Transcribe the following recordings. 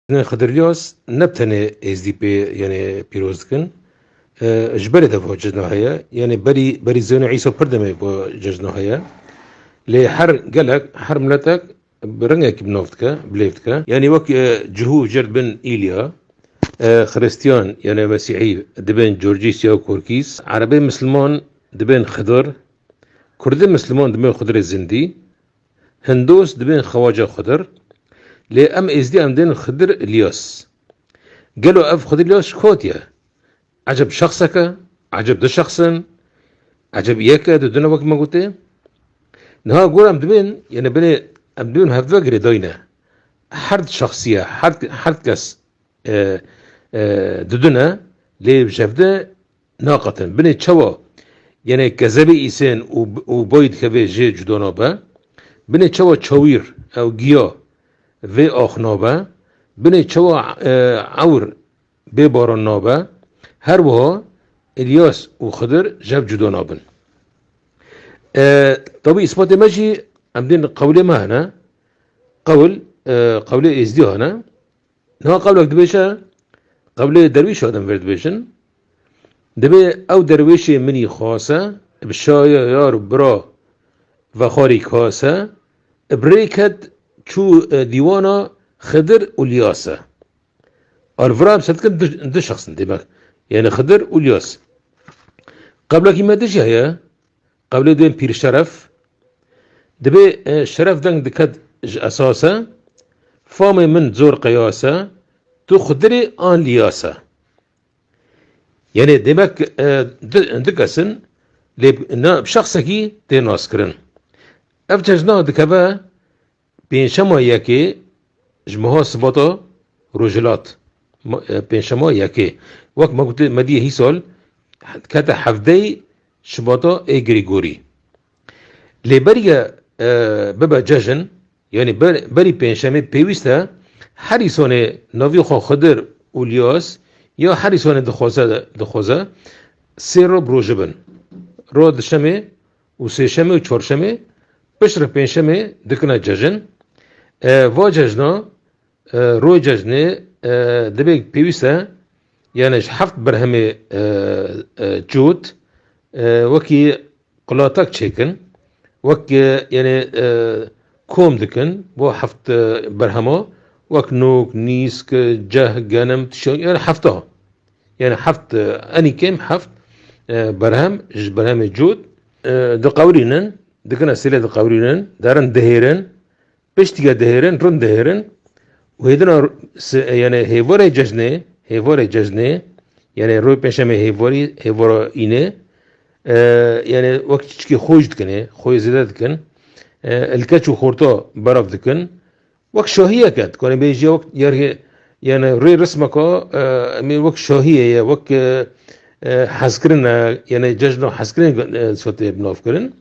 Tenê Xedir Lyaz ne bi tenê êzdîpê yenê pîroz dikin. Ji berê de va cejna heye. Yenê berî berî Zeyno Îsa pir demê va cejna heye. Lê her gelek, her miletek bi rengekî bi nav dike, bi lêv dike. Yenê wek cihû jerd bin Îlya, Xirîstiyan yenê Mesîhî dibên Corcîs ya Korkîs, Erebê Misilman dibên Xedir, Kurdê Misilman dibên Xedirê Zindî Hindos dibên Xewaca Xdir, lê em Êzdiyan dên Xdir Îlyas. Gelo ev Xdir Îlyas ji ku hatiye? Eceb şexsek e? Eceb du şexs in? Eceb yek e, du din e wek me gotê? Niha gora em dibên, yanî binê em dibên hev ve girêdayîne. Her di şexsiye, her di kes du din e, lê ji hev de Naqetin. Binê çawa yenê kezebê îsên û bayî dikeve jê cuda nabe? Binê çawa çawîr ew giya vê ax nabe? Binê çawa ewr bê baran nabe? Her wiha Îlyas û Xidir jev cuda nabin. Tabî îsbatê me jî em dên qewlê me hene. Qewl, qewlê êzdî hene. Niha qewlek dibêje, qewlê derwîşa din vir dibêjin, Dibê ew derwêşê minî xase, bi şaya yar û bira vexarî kase, bi rê ket çû dîwana Xidir û Lyase. Arvira bi sedkin du şexs in demek, yanî Xidir û Lyas. Qewlekî me dijî heye, Qewlê duyem Pîrşeref Dibê şeref deng diket ji esase, Famê min zor qeyase, tu xudirê an liyase. Yanê demek du kes in lê bi şexsekî tê naskirin. Ev cejna dikeve Pêncşema yekê ji meha sibata rojhilat pêncşema yekê wek me gotiye me diyê hîsal dikete hevdeyê şibata ê Grîgorî. Lê beriye bibe cejn yanî berî pêncşemê pêwîst e her îsanê navê xwe Xidir Ulyas ya her îsanê dixwaze dixwaze sê roj bi roj bin. Roj di şemê û sêşemê û çarşemê pişt re pêncşemê dikine cejin. Va cejna royê cejnê divê pêwîst e yanê ji heft berhemê çût wekî qulatak çêkin wek yanê kom dikin bo heft berhema wek nok, nîsk, ceh, genim, tişo yanê hefta. Yani heft enî kêm heft berhem ji berhemê cût diqewirînin, dikine sêlê diqewirînin, derin dihêrin, piştîge dihêrin, rind dihêrin û hêdina yani hêvorê cejnê, hêvorê cejnê yani roy pêşemê hêvorî hêvora îne yani wek çiçikê xwe jî dikine, xwe zêde dikin. Li keç û xorta berav dikin Wek şahiyek e, dikanê bêjî wek yergê yani rê rismeka emê wek şahiyê ye, wek hezkirin e, yani cejna hezkirin sotê nav kirin.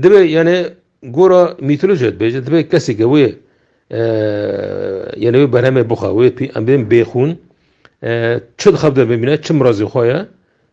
Dibe yani gora mitoloji dibêje, dibe kesêke wê yani wê berhemê bixa, wê em bêxûn, çi dixebde bimîne, çi mirazê xwe ye,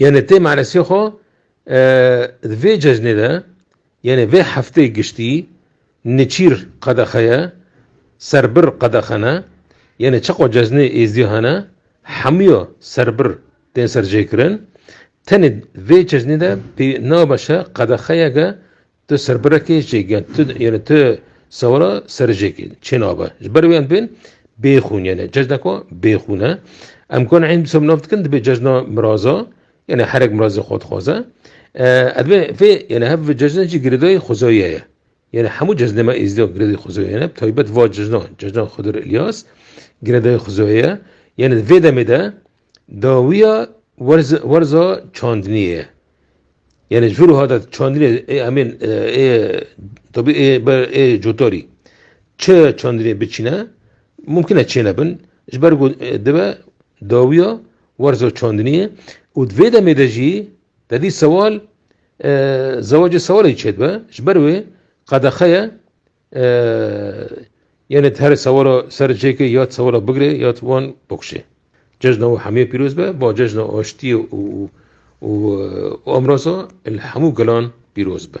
Yenê tê meresê xwe di vê cejnê de yenê vê heftê giştî niçîr qedexe ye, serbir qedexe ne. Yenê çaqa cejnê êzî hene hemûya serbir tên serjêkirin. Tenê vê cejnê de pê nabeşe qedexeyeke Ti serbirekê jêgên ti yên ti sewra serjêkê çê nabe. Ji ber wê em bên bêxûn yani cejneka bêxûn e. Em kan eyn bisem nav dikin dibê cejna miraza yani herek mirazê xwe dixwaze. Edbê vê yani hev ve cejna jî girêdayê xwezayê ye. Yani hemû cejnê me êzîda girêdayê xwezayê ne taybet va cejna cejna Xwedir Ilyas girêdayê xwezayê ye. Yani vê demê de Dawiya werza çandiniyê ye. Yani ji vir û hata çandinê ê emên ê tabî ê ber ê cotarî çi çandinê biçîne mumkin e çê nebin ji ber ku dibe dawiya werza çandiniyê û di vê demê de jî tedî sewal zewacê sewalê çêdibe ji ber wê qedexe ye Yê ne her sewara ser cêkê ya sewara bigirê ya wan bikuşê. Cejna û hemiyê pîroz be, ba cejna aştiyê û û amraza li hemû gelan pîroz be.